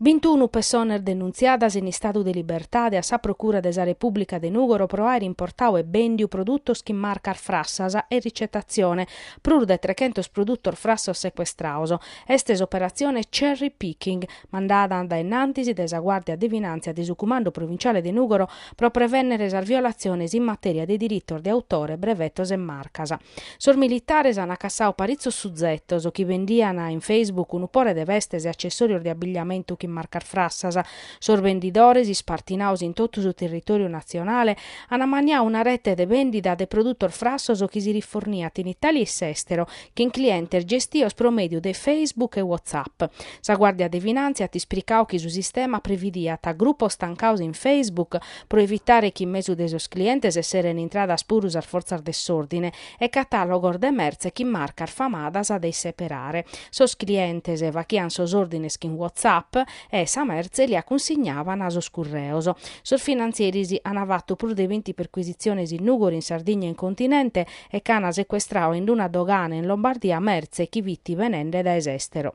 Bintunu pessones denuntziadas in istadu de libertade a sa Procura de sa Repùblica de Nùgoro pro àere importadu e bèndiu produtos chin marcas frassas e ricetatzione, prus de trechentos produtos frassos secuestrados. Est s'operatzione Cherry Picking, mandada dae innantis dae sa Guàrdia de Finàntzia de su Cumandu Provinciale de Nùgoro pro prevènnere sas violatziones in matèria de diritos de autore, brevetos e marcas. Sos militares an acassadu paritzos suzetos chi bendian in Facebook unu pore de vestes e accessòrios de abigliamentu chin marcas frassas. Sos bendidores, ispartinados in totu su territòriu natzionale, an ammaniadu una rete de bèndida de produtos frassos chi si riforniat in Itàlia e s'èstero, chin clientes gestidos pro mèdiu de Facebook e WhatsApp. Sa Guàrdia de Finàntzia at ispricadu chi su sistema previdiat grupos tancados in Facebook pro evitare chi in mesu de sos clientes esseren intradas puru sas fortzas de s'ordine e catàlogos de mertze chin marcas famadas de isseperare. Sos clientes faghian sos òrdines chin WhatsApp e sa mertze li a cunsignavan a sos curreos. Sos finantzieris an fattu prus de binti perquisitziones in Nùgoro, in Sardigna e in continente e ch'an secuestradu in una dogana in Lombardia mertze chi fit benende dae s'estero.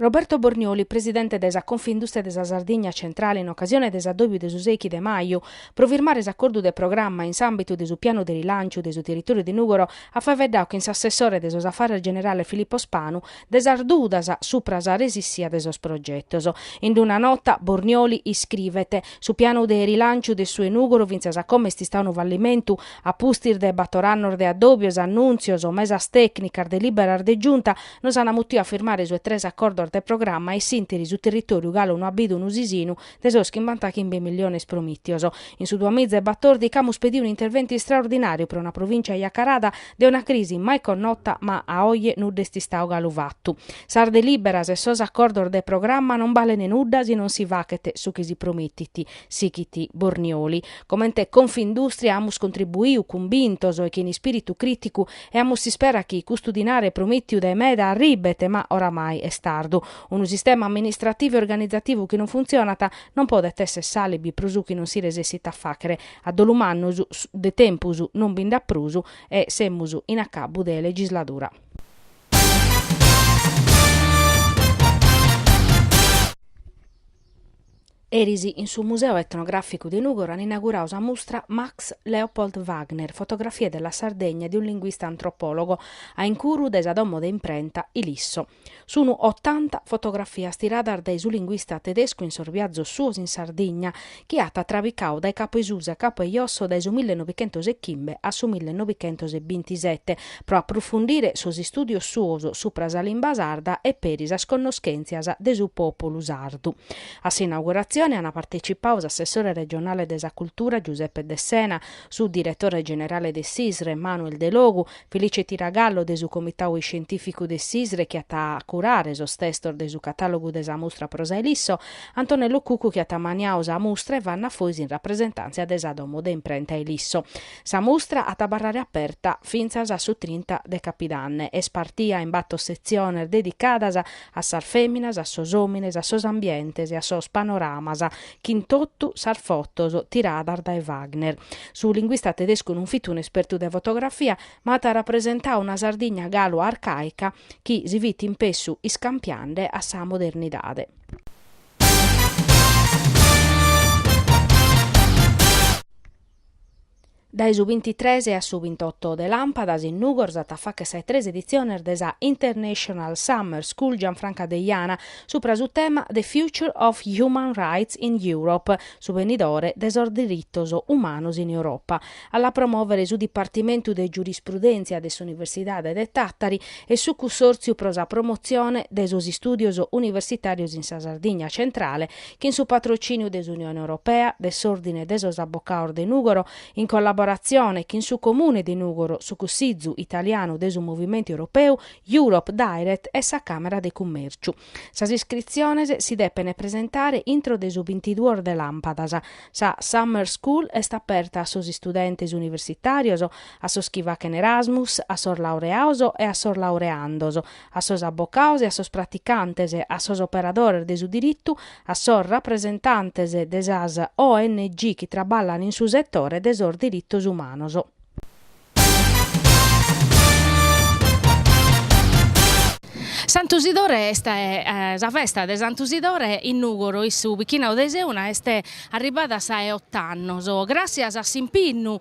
Roberto Bornioli, presidente de sa Confindustria de sa Sardigna Centrale in ocasione de s'addòbiu de su sechi de maju pro firmare s'acordu de programma in s'àmbitu de su pianu de rilànciu de su territòriu de Nùgoro at faeddadu chin s'assessore de sos afares generales Filippo Spanu de sas dudas supra sa resissia de sos progetos. In una nota Bornioli iscrivet, Su pianu de rilànciu de su 'e Nùgoro fintzas a como est istadu unu fallimentu, a pustis de bator annos de addòbios, annùntzios, mesas tècnicas, delìberas de Giunta, nos an mutiu a firmare su 'e tres acordos de programma e in s'ìnteri su territòriu galu no at bidu unu sisinu de sos chimbantachimbe milliones promìtios. In su duamiza e batòrdichi amus pediu un'interventu istraordinàriu pro una provìncia iscarada dae una crisi mai connota ma a oje nudda est istadu galu fatu. Sas delìberas e sos acordos de programma non balent nudda si non si faghet su chi si promitit, sighit Bornioli. Comente Confindustria amus contribuiu cumbintos e chin ispìritu crìticu e amus s'ispera chi custu dinare promìtiu dae meda arribet ma oramai est tardu. Unu sistema amministrativu e organizativu chi non funtzionat non podet esser s'alibi pro su chi non si resessit a fàghere. A dolu mannu, de tempus non bi nd'at prus e semus in acabu de legisladura. Eris in su Museu Etnogràficu de Nùgoro an inauguradu sa mustra Max Leopold Wagner, fotografie della Sardegna di un linguista antropologo, a incuru de sa domo de imprenta Ilisso. Sunu otanta fotografias tiradas dae su linguista tedescu in sos biazos suos in Sardigna, chi at trabicadu dae capu 'e susu a capu 'e josso dae su millenovichentos e chimbe a su millenovichentos e bintisete, pro aprufundire sos istùdios suos supra sa limba sarda e peri sas connoschèntzias de su pòpulu sardu. A s'inauguratzione ant partecipadu s'assessore regionale de sa cultura Giuseppe Dessena, su diretore generale de s'ISRE Manuel Delogu, Felice Tiragallo de su Comitau Iscientìficu de s'ISRE chi at a curare sos testos de su catàlogu de sa mustra pro sa Ilisso, Antonello Cuccu chi at maniadu sa mustra e Vanna Fois in rapresentàntzia de sa domo de imprenta Ilisso. Sa mustra at a abarrare aperta fintzas a su trinta de capidanne. Est partida in bator setziones dedicadas a sas fèminas, a sos òmines, a sos ambientes e a sos panoramas chin totu sas fotos tiradas dae Wagner. Su linguista tedescu non fit un'espertu de fotografia, ma at rapresentadu una Sardigna galu arcàica chi si fit in pessu iscampiande a sa modernidade. Dae su bintitres a su bintoto de Làmpadas in Nùgoro s'at a fàghere sa 'e tres editziones de sa International Summer School Gianfranca Deiana subra su tema The Future of Human Rights in Europe, su benidore de sos diritos umanos in Europa. A la promòvere su Dipartimentu de Giurisprudèntzia de s'Universidade de Tàtari e su Cussòrtziu pro sa promotzione de sos istùdios universitàrios in sa Sardigna centrale chin su patrocìniu de s'Unione Europea, de s'Òrdine de sos Abocados de Nùgoro, in collaboratzione chin su Comune de Nùgoro, su Cussizu italianu de su Movimentu Europeu, Europe Direct e sa Càmera de Cummèrciu. Sas iscritziones si depene presentare intro de su bintiduos de làmpadas. Sa Summer School est aperta a sos istudentes universitàrios, a sos chi faghen Erasmus, a sos laureados e a sos laureandos, a sos abocados e a sos praticantes, a sos operadores de su diritu, a sos rapresentantes de sas ONG chi traballan in su setore de sos diritos umanos. Santu Sidore est sa festa de Santu Sidore in Nùgoro, in su bichinadu de Seuna, est arribbada a sa 'e ott'annos, gràtzias a s'impinnu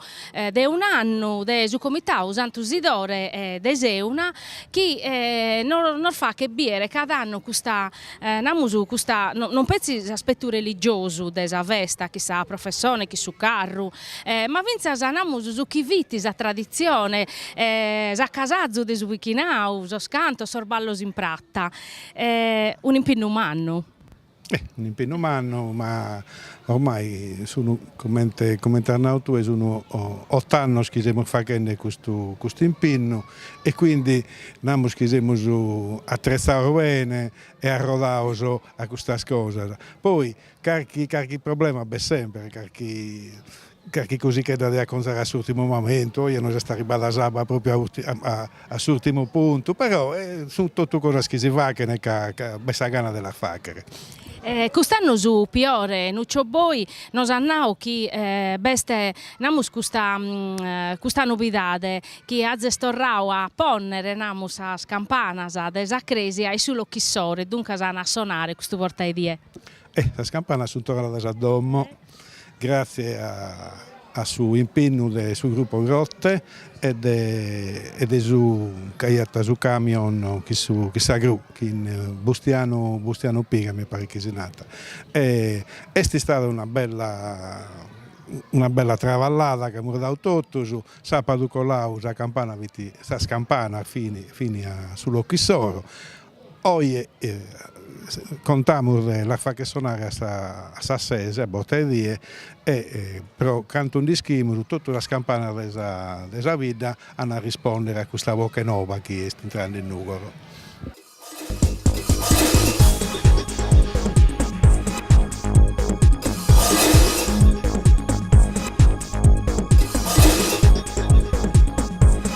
de un'annu de su Comitau Santu Sidore de Seuna chi nos faghet biere cada annu custa, namus custa, non petzi s'aspetu religiosu de sa festa chin sa professone chin su carru ma fintzas namus su chi fit sa traditzione s'acasazu de su bichinau, sos cantos, sos ballos in prata un'impinnu mannu. Eh, un'impinnu mannu, ma ormai sun, comente, comente as nau tue, sun ott'annos chi semus faghende custu, custu impinnu e quindi namus chi semus attrezzaos bene e arrodaos a custas cosas. Poi carchi, carchi problema b'est sempre, carchi Carchi cosichedda de aconzare a s'urtimu momentu, oje nos est arribbada s'abba propriu a s'urtimu puntu, però sunt totu cosas chi si fachene ca b'est sa gana de las fachere. Cust'annu su Piore Nuccio Boi nos at nau chi b'est, namus, custa custa nobidade chi azes torrau a ponnere, namus, sas campanas de sa cresia in su locu issoro, duncas an a sonare custu borta 'e die. Sas campanas sunt torradas a domo. Gratzie a su impennu de su gruppo Grotte e de su CAI, a su camion chin su chin sa gru chi Bustianu Bustianu Piga mi paret chi si nat e est istada una bella una bella travallada chi amus dau totus, sapadu colau sa campana fit sas campanas fin fin a su locu issoro Oje contamus de las facher sonare a sas ses, a borta 'e die, e pro cantu nd'ischimus totu sas campanas de sa de sa bidda an a rispòndere a custa boche noba chi est intrande in Nùgoro.